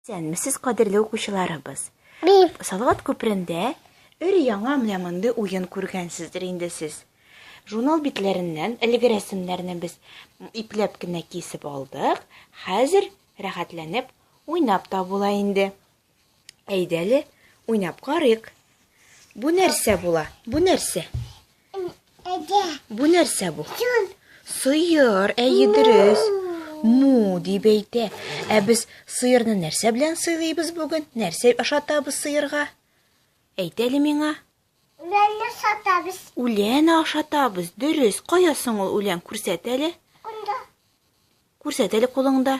Исәнмесез, кадерле укучыларыбыз. Салават күперендә өр яңа менә мондый уен күргәнсездер инде сез. Журнал битләреннән әлеге рәсемнәрне без ипләп кенә кисеп алдык. Хәзер рәхәтләнеп уйнап та була инде. Әйдәле, уйнап карыйк. Бу нәрсә була? Бу нәрсә? Бу нәрсә бу? Сыер, әйе дөрес. Му дип әйтә. Ә без сыерны нәрсә белән сыйлыйбыз бүген? Нәрсә ашатабыз сыерга? Әйт әле миңа. Үлән ашатабыз. Үлән ашатабыз. Дөрес. Кая соң ул үлән? Күрсәт әле. Кунда. Күрсәт әле кулыңда.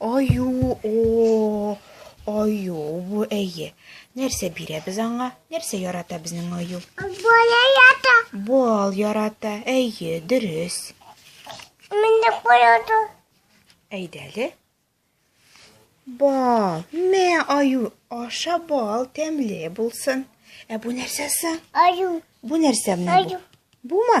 Аю, о, аю, бу әйе. Нәрсә бирәбез аңа? Нәрсә ярата безнең аю? Бал ярата. Бал ярата, әйе, дөрес. Менә куяды. Әйдәле. Бал, мә аю, аша бал, тәмле булсын. Ә бу нәрсәсе? Аю. Бу нәрсә менә бу? Бума?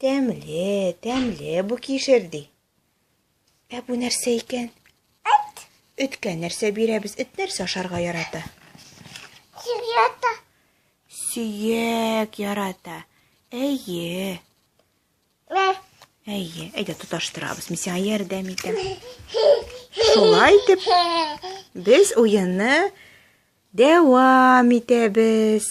Тәмле, тәмле бу кишер, ди. Ә бу нәрсә икән? Эт. Эткә нәрсә бирәбез? Эт нәрсә ашарга ярата? Сөяк. Сөяк ярата. Әйе. Ә. Әйе, әйдә тоташтырабыз. Мин сиңа ярдәм итәм. Шулай итеп без уенны дәвам итәбез.